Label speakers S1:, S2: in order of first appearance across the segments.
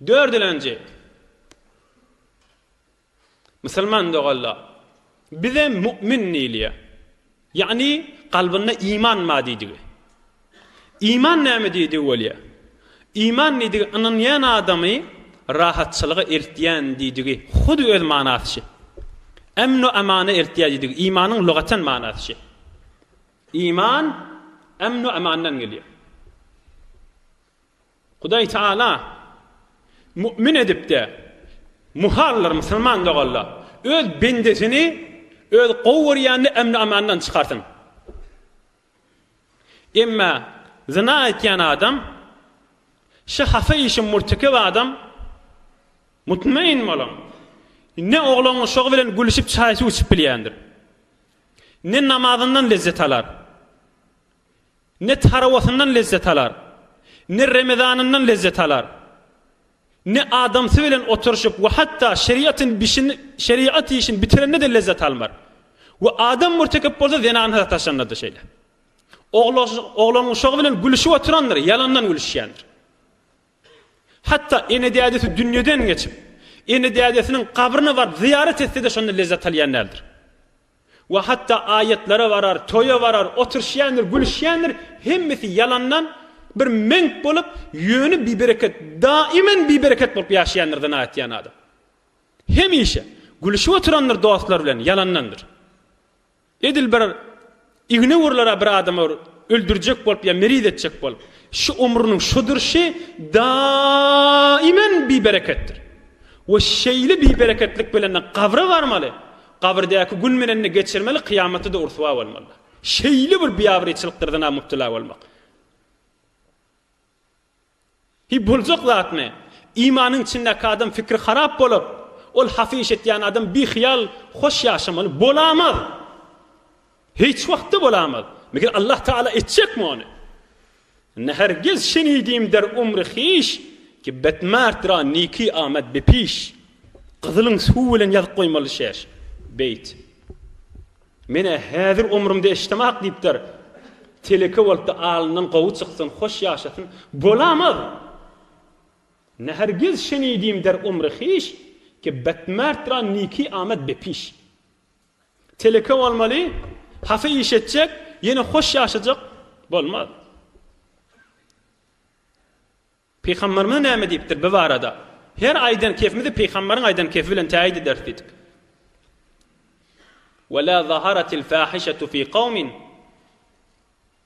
S1: Dördülenji. Musulman doganlar, bize mu'min diýilýär. Ýagny kalbynda iman bar diýdigi. Iman näme diýdigi bolýar. Iman diýdigi ynanýan adamy rahatçylyga eltýän diýdigi, hudy öz manasy şi. Emnu emana eltýär diýdigi, imanyň lugatan manasy şi. Iman emnu emandan gelýär. Hudaý Tagala mümin edip-de, muhallar, musulman doganlar, Öz bendesini Öz gowy görýänini emni-amandan çykarsyn. Emma zyna etýän adam, şu hata işi mürtekep adam, mutmain boluň, ne oglan-uşagy bilen gülüşip çaý-suw içip bilýändir, ne namazyndan lezzet alar, Ne tarawasyndan lezzet alar, ne remezanyndan lezzet alar, ne adamsy bilen oturyşyp we hatda şeriatyn bişin, şeriat işin bitirende-de lezzet almar. We adam mürtekip bolsa zenana sataşanda-da şeýle. Oglan uşagy bilen gülüşip oturandyr, ýalandan gülüşýändir. Hatda ene-dädesi dünýeden geçip, ene-dädesiniň gabryna baryp zyýarat etse-de şonda lezzet alýan däldir. We hatda aýatlara barar, toýa barar, oturşýandyr, gülüşýändir, hemmesi ýalandan bir meňk bolup, ýöne bibereket, daiman bibereket bolup ýaşaýandyr zyna etýän adam. Hemişe gülüşip oturandyr dostlar bilen, ýalandandyr. Edil bir igne urlara bir adama öldürjek bolup ýa meriz etjek bolup, şu umrunyň şu durşy daiman bibereketdir. We şeýle bibereketlik bilen-de gabra barmaly. Gabyrdäki gün bilen-de geçirmeli, kyýamatda-da ryswa bolmaly. Şeýle bir biabraýçylykdyr zyna mübtela bolmak. Hi, boljak zatmy? Imanyň içindäki adam pikri harap bolup, ol hasyş etýän adam bihyýal, hoş ýaşamaly bolamaz. Hiç wagtda bolamaz. Meger Allah Taala etjekmi ony? Ne hergiz şenidim der umri hiş Ki betmerd ra niki amad be piş. Gyzylyň suw bilen ýazyp goýmaly şeş. Beýt. Menä häzir omrumde eşdemak diýipdir. Teleke bolupdy alyndan gowy çyksyn hoş ýaşasyn. Bolamaz! Ne hergiz şenidim der umri hiş Ki betmerd ra niki amad be piş. Teleke bolmaly, hasy iş etjek, ýene hoş ýaşajak bolmaz. Pygamberimiz näme diýipdir bi barada? Her aýdan kefimizi pygamberiň aýdan kefi bilen täýit ederis diýdik. Wala zaharatil fahişatu fi qawmin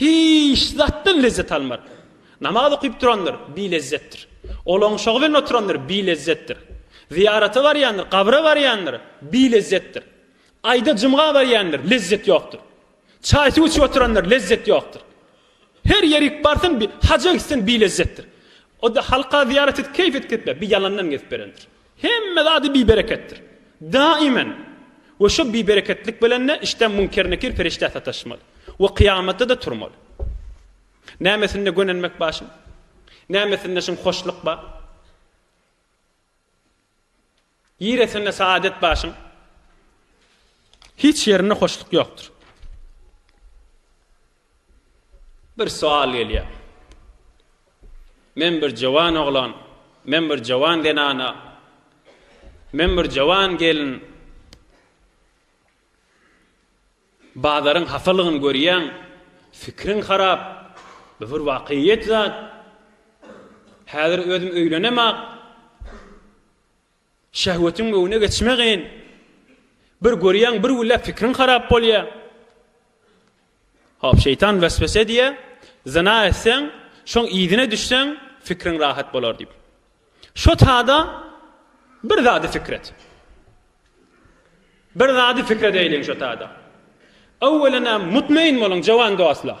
S1: Hiç zatdan lezzet almar. Namaz okyp durandyr, bi lezzetdir. Olaň şogy bilen oturandyr, bi lezzetdir. Zyýarata barýandyr, gabra barýandyr, bi lezzetdir. Aýda jumga barýandyr, lezzet ýokdur. Çaý-suw içip oturandyr, lezzet ýokdur. Her ýerik barsyn, bi haja gitsin, bi lezzetdir. O-da halka zyýarat et, keýf et gitme, bi ýalandan gezip berendir. Hemme zady bibereketdir. Daimen. We şo bibereketlik bilen-de işdäm Münker-Nekir perişdä sataşmaly. We kyýamatda-da turmaly. Nämesinde gönenmek bar şuň? Nämesinde şuň hoşluk bar? Ýeresinde saadet bar şuň? Hiç ýerinde hoşluk ýokdur. Bir soal gelýär. Men bir jowan oglan, men bir jowan zenana, men bir jowan gelin bazaryň hasalygyny görýän, fikriň harap, bu bir wakyýet zat. Häzir özüm öýlenemok. Şehwetiň öňüne geçme gyn. Bir görýäň bir güllä pikriň harap bolýa. Hop şeýtan weswese edýä, zyna etseň, şoň yzyna düşseň fikriň rahat bolar diýip. Şo tada bir zady fikir et. Bir zady fikir edeýliň şo tada. Öwwelena mutmaýyn boluň jowan dostlar.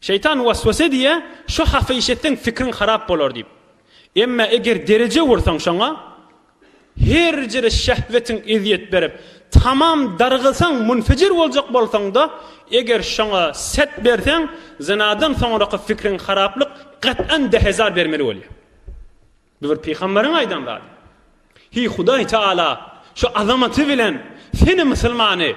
S1: Şeýtan waswasa diýýär, Şu hafa iş etseň pikriň harap bolar diýip. Emma eger dereje ursaň şoňa, herjere şähwetiň ezýet berip, tamam dargylsaň, munfejir boljak bolsaň-da, eger şoňa set berseň, zynadan soňraky pikriň haraplyk gat'an dehezar bermeli bolýar. Bu bir pygamberiň aýdan zady. Heý Hudaý Taala şu azamaty bilen seni musulmany,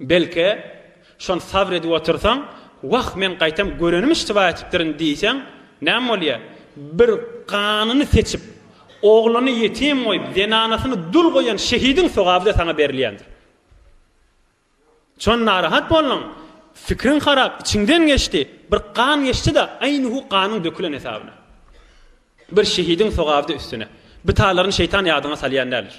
S1: Belki, şony sabr edip otursaň, Wah, men gaýtam görenim iştiba etipdirin diýseň, näme bolýar? Bir ganyny seçip, ogluny ýetim goýup, zenanasyny dul goýan şehidiň sogaby-da saňa berilýändir. Çon narahat bolduň, pikriň harap, içiňden geçdi, bir gan geçdi-de, aýnihu ganyň dökülen hesabyna. Bir şehidiň sogaby-da üstüne. Bitalaryn şeýtan ýadyňa salýan däldir.